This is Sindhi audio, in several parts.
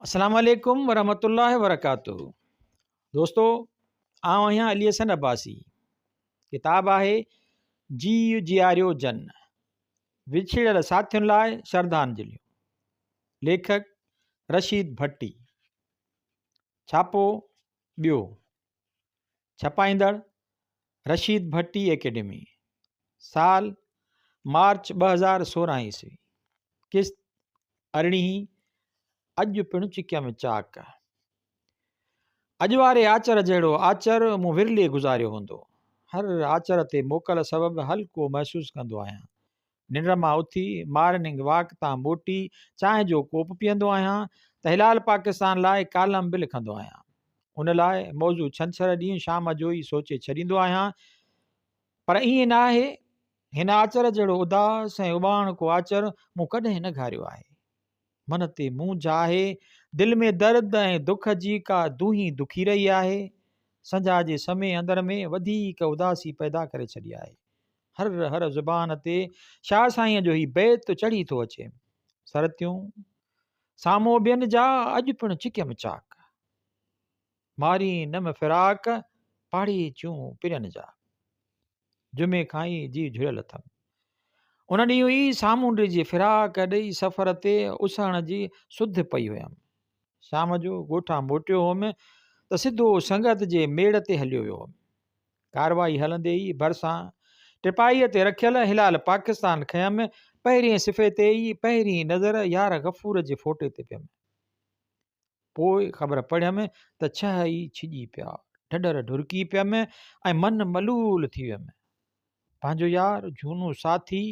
اسلام عليڪم ورحمة الله وبرڪاته دوستو آئون آهيان علي حسن عباسي ڪتاب آهي جي جياريو جن وڇڙيل ساٿين لاء شردانجليون ليکڪ رشيد ڀٽي ڇاپو ٻيو ڇپائيندڙ، رشيد ڀٽي اڪيڊمي، سال، مارچ ٻه هزار سورهن عيسوي، قسط ارڙهين، اڄ پڻ چڪيم چاڪ، اڄ واري آچر جهڙو آچر مون ورلي گذاريو هوندو، هر آچر تي موڪل سبب هلڪو محسوس ڪندو آهيان، ننڊ مان اٿي مارننگ واڪ تان موٽي چانهه جو ڪوپ پيئندو آهيان ته هلال پاڪستان لاء ڪالم به لکندو آهيان. ان لاء موضوع ڇنڇر ڏينهن شام جو ئي سوچي ڇڏيندو آهيان پر ائين نه آهي. هن آچر جهڙو اداس ۽ اٻاڻڪو آچر مون ڪڏهن نه گهاريو آهي. من تي مونجهه آهي، دل ۾ درد ۽ دک جي ڪا دونهي دکي رهي آهي. سنجهاء جي سمي اندر ۾ وڌيڪ اداسي پيدا ڪري ڇڏي آهي. هر هر زبان تي شاهه سائينء جو هي بيت چڙهي ٿو اچي سرتيون سامهون ٻين جا اڄ پڻ چڪيم چاڪ ماري نم فراق پاڙي چون پرين جا جمعي کان ئي جي جڙيل اٿم ان ڏينهن ئي سامونڊ جي فراق ڏيئي سفر تي اسهڻ جي سڌ پئي هيم شام جو ڳوٺان موٽيو هوم ته سڌو سنگت جي ميڙ تي هليو ويو هوم ڪارروائي هلندي ئي ڀرسان ٽپائيء تي رکيل هلال پاڪستان کيم پهرين صفحي تي ئي پهرين نظر يار غفور جي فوٽي تي پيم. پوء خبر پڙهيم ته ڇهه ئي ڇڄي پيا. ڍڍر ڍرڪي پيم ۽ من ملول ٿي ويم. پنهنجو يار، جهونو ساٿي،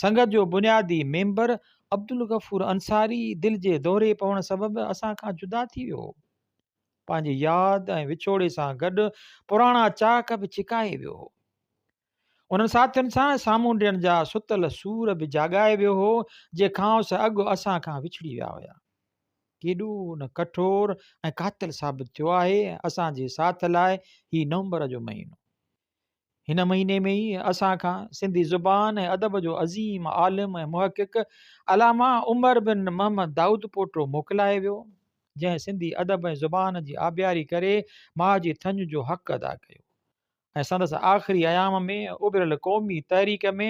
سنگت جو بنيادي ميمبر عبدالغفور انصاري دل جي دوري پوڻ سبب اسان کان جدا ٿي ويو هو. پنهنجي ياد ۽ وڇوڙي سان گڏ پراڻا چاڪ به ڇڪائي ويو هو. انهن ساٿين سان سامونڊين جا ستل سور به جاڳائي ويو هو، جي کانئس اڳ اسان کان وڇڙي ويا هيا. ڪيڏو نه ڪٺور ۽ قاتل ثابت ٿيو آهي اسان جي ساٿ لاء هي نومبر جو مهينو. هن مهيني ۾ ئي اسان کان سنڌي زبان ۽ ادب جو عظيم عالم ۽ محقق علامه عمر بن محمد دائود پوٽو موڪلائي ويو جنهن سنڌي ادب ۽ زبان جي آبياري ڪري ماء جي ٿڃ جو حق ادا ڪيو ۽ سندس آخري ايام ۾ اڀريل قومي تحريڪ ۾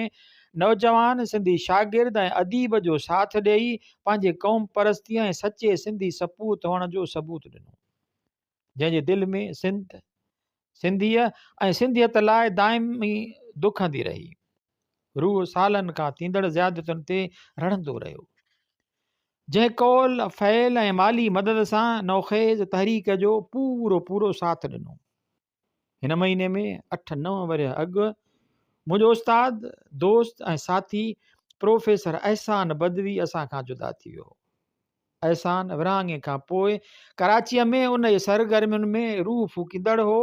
نوجوان سنڌي شاگرد ۽ اديب جو ساٿ ڏيئي پنهنجي قوم پرستي ۽ سچي سنڌي سپوت هئڻ جو ثبوت ڏنو جنهن جي دل ۾ سنڌ، سنڌيء ۽ سنڌيت لاء دائمي دکندي رهي. روح سالن کان ٿيندڙ زيادتن تي رڙهندو رهيو. جنهن قول، فعل ۽ مالي مدد سان نوخيز تحريڪ جو پورو پورو ساٿ ڏنو. هن مهيني ۾ اٺ نو ورهيه اڳ منهنجو استاد، دوست ۽ ساٿي پروفيسر احسان بدوي اسان کان جدا ٿي ويو. احسان ورهاڱي کان پوء ڪراچيء ۾ ان جي سرگرمين ۾ روح ڦوڪيندڙ هو،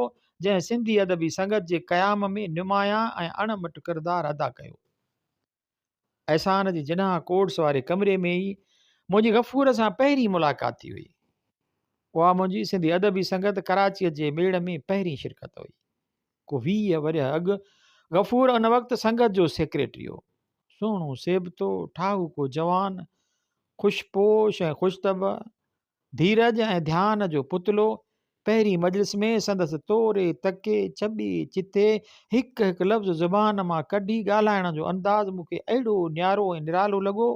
جنهن سنڌي ادبي سنگت جي قيام ۾ نمايان ۽ اڻ مٽ ڪردار ادا ڪيو. احسان جي جناح ڪورٽس واري ڪمري ۾ ئي منهنجي غفور سان پهرين ملاقات ٿي هئي. اها منهنجي سنڌي ادبي سنگت ڪراچيء جي ميڙ ۾ پهرين شرڪت هئي. ڪو ويهه ورهيه اڳ غفور ان وقت سنگت جو سيڪريٽري هو. سهڻو سيبتو، ٺاهوڪو جوان، خوش پوش ۽ خوش طبع، ڌيرج ۽ ڌيان جو پتلو، پهرين مجلس ۾ سندس توري، تڪي، چٻي، چٿي، هڪ هڪ لفظ زبان مان ڪڍي ڳالهائڻ جو انداز مون کي اهڙو نيارو ۽ نرالو لڳو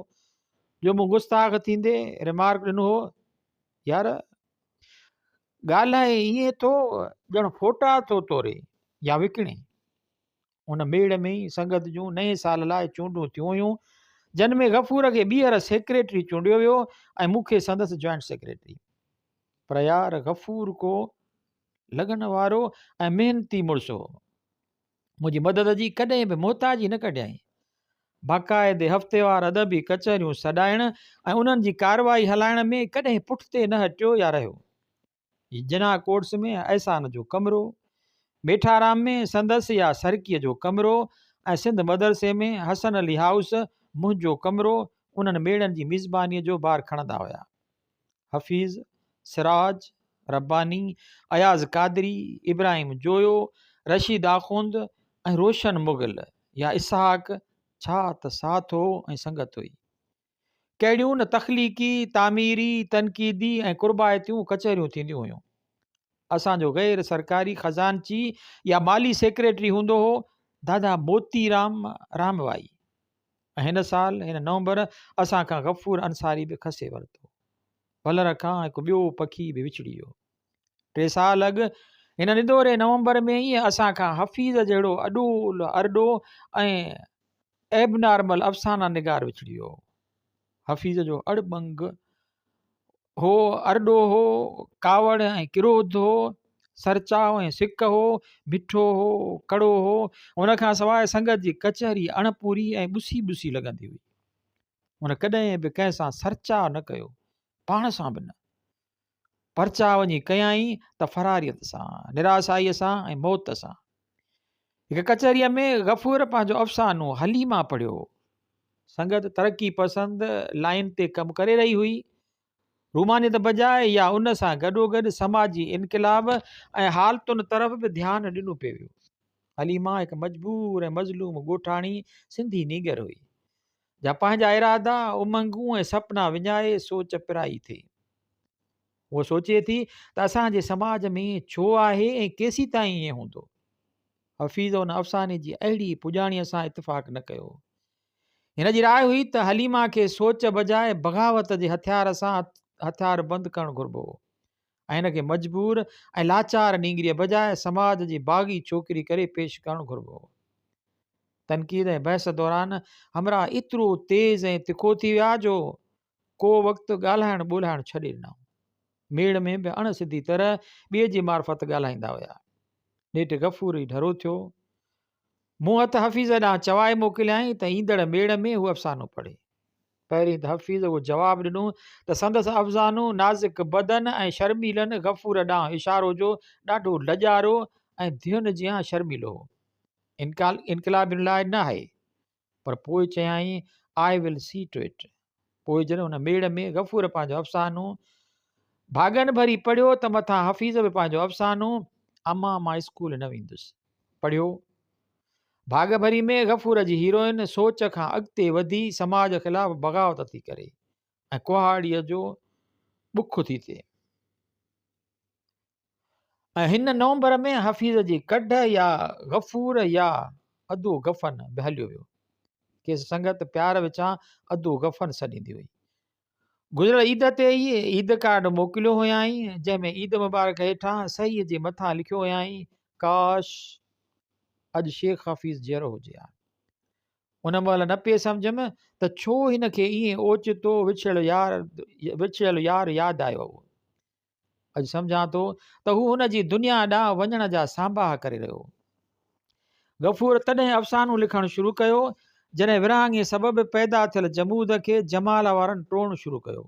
جو مون گستاخ ٿيندي رمارڪ ڏنو هو، يار! ڳالهائي ائين ٿو ڄڻ ڦوٽا ٿو توري يا وڪڻي ان ميڙ ۾ ئي سنگت جون نئين سال لاء چونڊون ٿيون هيون جن ۾ غفور کي ٻيهر سيڪريٽري چونڊيو ويو ۽ مون کي سندس جوائنٽ سيڪريٽري پر يار غفور ڪو لڳن وارو ۽ محنتي مڙس هو منهنجي مدد جي ڪڏهن به محتاجي نه ڪڍيائين. باقاعدي هفتيوار ادبي ڪچهريون سڏائڻ ۽ انهن جي ڪارروائي هلائڻ ۾ ڪڏهن پٺتي نه هٽيو يا رهيو. جناح ڪورٽس ۾ احسان جو ڪمرو، ميٺارام ۾ سندس يا سرڪيء جو ڪمرو ۽ سنڌ مدرسي ۾ حسن علي هائوس منهنجو ڪمرو انهن ميڙن جي ميزبانيء جو بار کڻندا هيا. حفيظ، سراج، رباني، اياز قادري، ابراهيم جويو، رشيد آخوند ۽ روشن مغل يا اسحاق ڇا ته ساٿ هو ۽ سنگت هئي. ڪهڙيون نه تخليقي، تعميري، تنقيدي ۽ قربائتيون ڪچهريون ٿينديون هيون. اسان جو غير سرڪاري خزانچي يا مالي سيڪريٽري هوندو هو دادا موتي رام راموائي. هن سال هن نومبر اسان کان غفور انصاري به کسي ورتو. ڀلر کان هڪ ٻيو پکي به وڇڙي ويو. ٽي سال اڳ هن ندوري نومبر ۾ ئي اسان کان حفيظ جهڙو اڏول ارڏو ۽ ايبنارمل افسانه نگار وڇڙي ويو. حفيظ جو اڙٻنگ هو، ارڏو هو، ڪاوڙ ۽ ڪروڌ هو، سرچاء ۽ سڪ هو، مٺو هو، ڪڙو هو، ان کان سواء سنگت جي ڪچهري اڻ پوري ۽ ٻسي ٻسي لڳندي هئي. هن ڪڏهن به ڪنهن سان سرچاء نه ڪيو، پاڻ سان به نه. پرچاء وڃي ڪيائين ته فراريت سان، نراسائيء سان ۽ موت سان. هڪ ڪچهريء ۾ غفور پنهنجو افسانو حليمه پڙهيو. سنگت ترقي پسند لائين تي ڪم ڪري رهي هئي. رومانيت بجاء يا ان سان گڏوگڏ سماجي انقلاب ۽ حالتن طرف به ڌيان ڏنو پئي ويو. حليمه هڪ مجبور ۽ مظلوم ڳوٺاڻي سنڌي نينگر هئي، جا پنهنجا ارادا، امنگون ۽ سپنا وڃائي سوچ پرائي ٿي. هوء سوچي ٿي ته اسان جي سماج ۾ ائين ڇو آهي ۽ ڪيسيتائين ائين هوندو؟ حفيظ ان افساني جي اهڙي پڄاڻيء سان اتفاق نه ڪيو. هن جي راء هئي ته حليمه کي سوچ بجاء بغاوت جي هٿيار سان هٿيار بند ڪرڻ گهربو هو ۽ هن کي مجبور ۽ لاچار نينگريء بجاء سماج جي باغي ڇوڪري ڪري پيش ڪرڻ گهربو هو. تنقيد ۽ بحث دوران همراهه ايترو تيز ۽ تکو ٿي ويا جو ڪو وقت ڳالهائڻ ٻولهائڻ ڇڏي ڏنائون. ميڙ ۾ به اڻ سڌي طرح ٻئي جي معرفت ڳالهائيندا هيا. نيٺ غفوري ڍرو ٿيو. مون هٿ حفيظ ڏانهن چوائي موڪليائين ته ايندڙ ميڙ ۾ هو افسانو پڙهي. پهرين ته حفيظ اهو جواب ڏنو ته سندس افسانو نازڪ بدن ۽ شرميلن غفور ڏانهن اشارو جو ڏاڍو لڄارو ۽ ڌين جيان شرميلو هو. انقلابين لاء نه آهي. پر پوء چيائين، I will see to it. پوء جڏهن ان ميڙ ۾ غفور پنهنجو افسانو ڀاڳن ڀري پڙهيو ته مٿان حفيظ به پنهنجو افسانو امان مان اسڪول نه ويندس پڙهيو. ڀاڳ ڀري ۾ غفور جي هيروئن سوچ کان اڳتي وڌي سماج خلاف بغاوت ٿي ڪري ۽ ڪهاڙيء جو بک ٿي ٿئي. ۽ هن نومبر ۾ حفيظ جي ڪڍ يا غفور يا ادو غفن به هليو ويو کيس سنگت پيار وچان ادو غفن سڏيندي هئي گذريل عيد تي ئي عيد ڪارڊ موڪليو هيائين جنهن ۾ عيد مبارڪ هيٺان صحيح جي مٿان لکيو هيائين ڪاش اڄ شيخ حفيظ جهرو هجي ها ان مهل نه پئي سمجھم ته ڇو هن کي ائين اوچتو وڇڙيل يار وڇڙيل يار ياد آيو هو اڄ سمجهان ٿو ته هو هن جي دنيا ڏانهن وڃڻ جا سانباهه ڪري رهيو هو غفور تڏهن افسانو لکڻ شروع ڪيو جڏهن ورهاڱي سبب پيدا ٿيل جمود کي جمال وارن ٽوڙڻ شروع ڪيو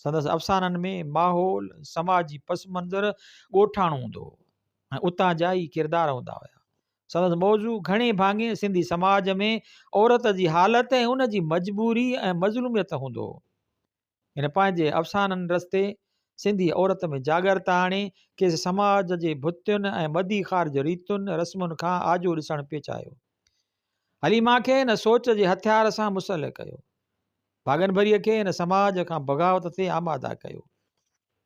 سندس افسانن ۾ ماحول سماجي پس منظر ڳوٺاڻو هوندو هو ۽ اتان جا ئي ڪردار هوندا هيا سندس موضوع گهڻي ڀاڱي سنڌي سماج ۾ عورت جي حالت ۽ ان جي مجبوري ۽ مظلوميت هوندو هو هن پنهنجي افسانن رستي سنڌي عورت ۾ جاڳرتا آڻي، کيس سماج جي ڀتين ۽ ٻڌي خار جي ريتن رسمن کان آجو ڏسڻ پيچايو. حليما کي هن سوچ جي هٿيار سان مسلح ڪيو. ڀاڳن ڀريء کي هن سماج کان بغاوت تي آماده ڪيو.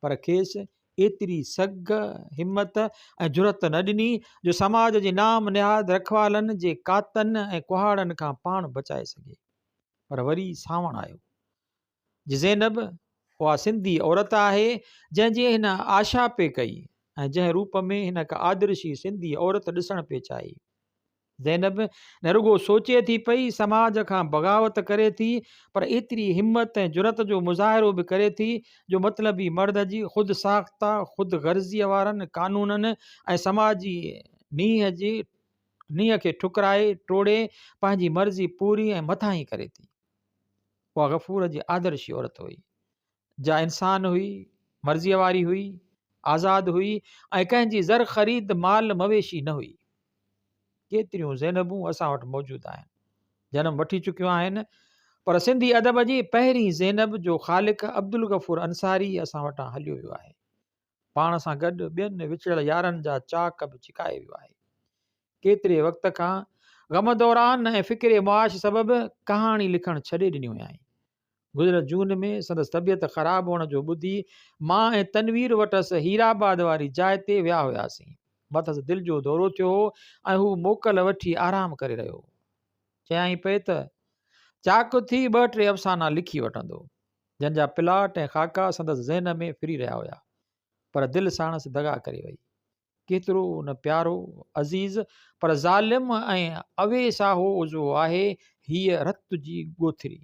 پر کيس ايتري سگهه، همت ۽ جرئت نه ڏني جو سماج جي نام نهاد رکوالن جي ڪاتن ۽ ڪهاڙن کان پاڻ بچائي سگهي. پر وري سانوڻ آيو. زينب، اها سنڌي عورت آهي، جنهن جي هن آشا پئي ڪئي ۽ جنهن روپ ۾ هن هڪ آدرشي سنڌي عورت ڏسڻ پئي چاهي. زينب نه رڳو سوچي ٿي پئي، سماج کان بغاوت ڪري ٿي، پر ايتري همت ۽ جرئت جو مظاهرو به ڪري ٿي، جو مطلبي مرد جي خود ساخته، خود غرضيء وارن قانونن ۽ سماجي نينهن کي ٺڪرائي ٽوڙي، پنهنجي مرضي پوري ۽ مٿاهين ڪري ٿي. اها غفور جي آدرشي عورت هئي جا انسان هئي مرضيء واري هئي آزاد هئي ۽ ڪنهن جي زر خريد مال مويشي نه هئي ڪيتريون زينبون اسان وٽ موجود آهن جنم وٺي چڪيون آهن پر سنڌي ادب جي پهرين زينب جو خالق عبدالغفور انصاري اسان وٽان هليو ويو آهي پاڻ سان گڏ ٻين وچڙيل يارن جا چاڪ به ڇڪائي ويو آهي ڪيتري وقت کان غم دوران ۽ فڪر معاش سبب ڪهاڻي لکڻ ڇڏي ڏني هيائين گذريل جون ۾ سندس طبيعت خراب هئڻ جو ٻڌي مان ۽ تنوير وٽس هيرآباد واري جاء تي ويا هياسين مٿس دل جو دورو ٿيو هو ۽ هو موڪل وٺي آرام ڪري رهيو چيائين پئي ته چاڪ ٿي ٻه ٽي افسانا لکي وٺندو جنهن جا پلاٽ ۽ خاڪا سندس ذهن ۾ ڦري رهيا هيا، پر دل ساڻس دغا ڪري وئي. ڪيترو نه پيارو، عزيز، پر ظالم ۽ اويساهو عضوو آهي هيء رت جي ڳوٿري.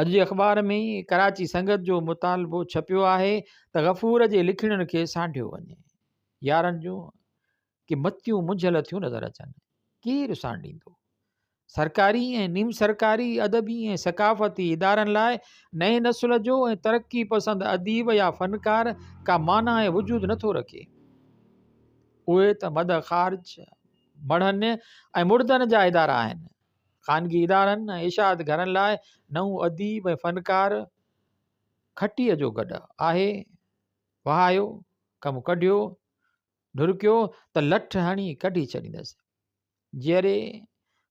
اڄ جي اخبار ۾ ڪراچي سنگت جو مطالبو ڇپيو آهي ته غفور جي لکڻين کي سانڍيو وڃي. يارن جون ڪي متيون منجهيل ٿيون نظر اچن. ڪير رساڻ ڏيندو؟ سرڪاري ۽ نيم سرڪاري ادبي ۽ ثقافتي ادارن لاء نئين نسل جو ۽ ترقي پسند اديب يا فنڪار ڪا معنيٰ ۽ وجود نه ٿو رکي. اهي ته مد خارج، مڙهن ۽ مڙدن جا ادارا آهن. خانگي ادارن ۽ اشاعت گهرن لاء نئون اديب ۽ فنڪار کٽيء جو گڏهه آهي. وهايو، ڪم ڪڍيو، ڍرڪيو ته لٺ هڻي ڪڍي ڇڏيندس. جيئري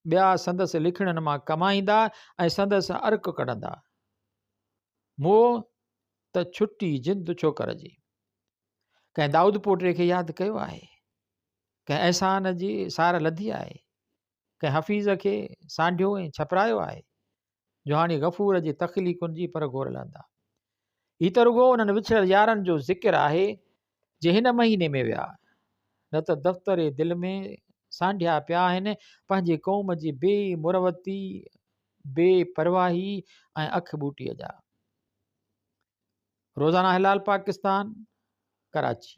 ٻيا سندس لکڻين مان ڪمائيندا ۽ سندس ارڪ ڪڍندا. مئو ته ڇٽي جند ڇوڪر جي. ڪنهن دائود پوٽي کي ياد ڪيو آهي. ڪنهن احسان جي سار لڌي آهي. ڪنهن حفيظ کي سانڍيو ۽ ڇپرايو آهي، جو هاڻي غفور جي تخليقن جي پر گهور لهندا. هي ته رڳو انهن وڇڙيل يارن جو ذڪر آهي، جي هن مهيني ۾ ويا، نه ته دفتر دل ۾ سانڍيا پيا آهن، پنهنجي قوم جي بي مروتي، بي پرواهي ۽ اک ٻوٽي جا. روزانه هلال پاڪستان، ڪراچي.